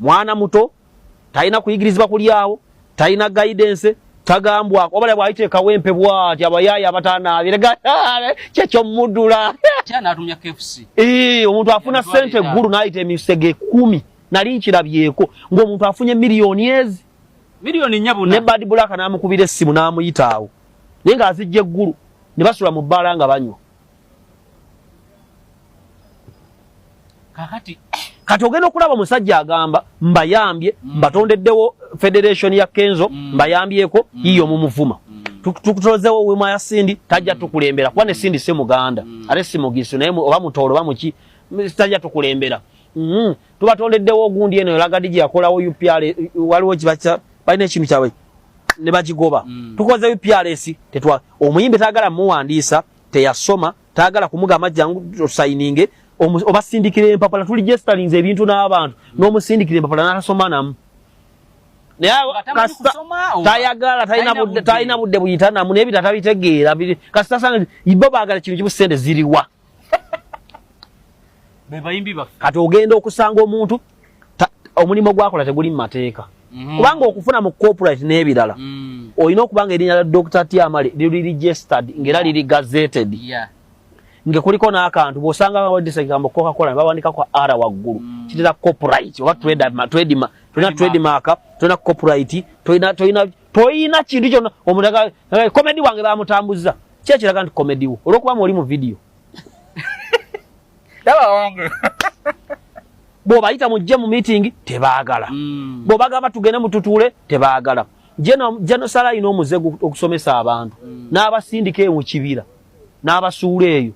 mwana muto talina kuyigirizibwa kulyawo talina guidance tagambwako obala bwayita ekawempe bwati abayaaya abatanaabire kyekyomudula omuntu afuna sente eggulu nayita emisege kumi nali nkirabyeko ngaomuntu afunye miliyoni ezi ne bad black namukubira essimu namuyitaawo naye nga azijja eggulu ne basula mu bbaala nga banywa kakati kati ogenda okulaba omusajja agamba mbayambye mm. mbatondeddewo federation ya kenzo mm. mbayambyeko mm. yiyo mumuvuma mm. tukutozewo wema ya sindi tajja mm. tukulembera kuba ne sindi si muganda mm. ate si mugisu naye oba mutoolo oba muki tajja tukulembera mm. tubatondeddewo ogundi eno elagadi gye yakolawo upr waliwo kibaca balina ekintu kyabwe ne bakigoba mm. tukoze uprs tetwa omuyimbi tagala muwandiisa teyasoma tayagala kumugamba jangu osayininge obasindikira empapula tuli gestalinze ebintu n'abantu n'omusindikira empapula n'atasoma namu tayagala talina budde buyita namu naye bita tabitegeera kasita sanga ibo baagala kintu kimu sente ziriwa kati ogenda okusanga omuntu omulimu gwakola teguli mu mateeka mhm. kubanga okufuna mu corporate n'ebirala mm. olina okuba nga erinnya lya dr tiamale liri registered ngaera liri gazeted nga kuliko n'akantu bw'osanga bawandisa ekigambo cocacola ne bawandikako r waggulu mm. kitera corporate oba tredma tolina trademark tolina corporate tolina kintu kyona omuntu komedi wange bamutambuzza kyekiraga nti komedi wo olwokuba mu oli mu vidiyo bwobayita mujje mu meeting tebagala hmm. bwobagamba tugende mututuule tebagala jenosala alina omuze okusomesa abantu hmm. n'abasindika eyo mu kibira n'abasuula eyo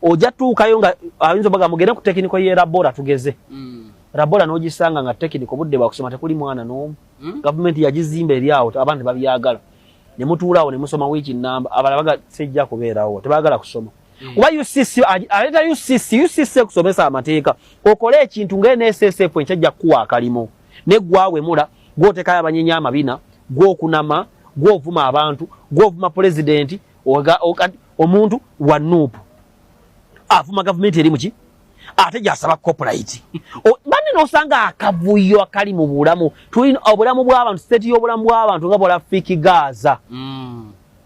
ojja tuukayo nga ayinza obaga mugende ku tekiniko ye labora tugeze hmm. labora n'ogisanga nga tekiniko budde bwakusoma tekuli mwana n'omu gavumenti yagizimba eri awo abantu tebabyagala ne mutuulaawo ne musoma wiiki nnamba abala baga sijja kubeerawo tebagala kusoma kuba ucc aleeta ucc ucc ekusomesa amateeka okole ekintu nga nssf enkyajja kukuwa akalimo negwawemula gwotekayo abanyenya amabina gwokunama gwovuma abantu gwovuma pulezidenti omuntu wa nuupu avuma gavumenti eri muki ate gyasaba copulite bane nosanga akavuyo akali mu bulamu tulina obulamu bwabantu siteti yobulamu bwabantu nga bwala fiki gaaza mm.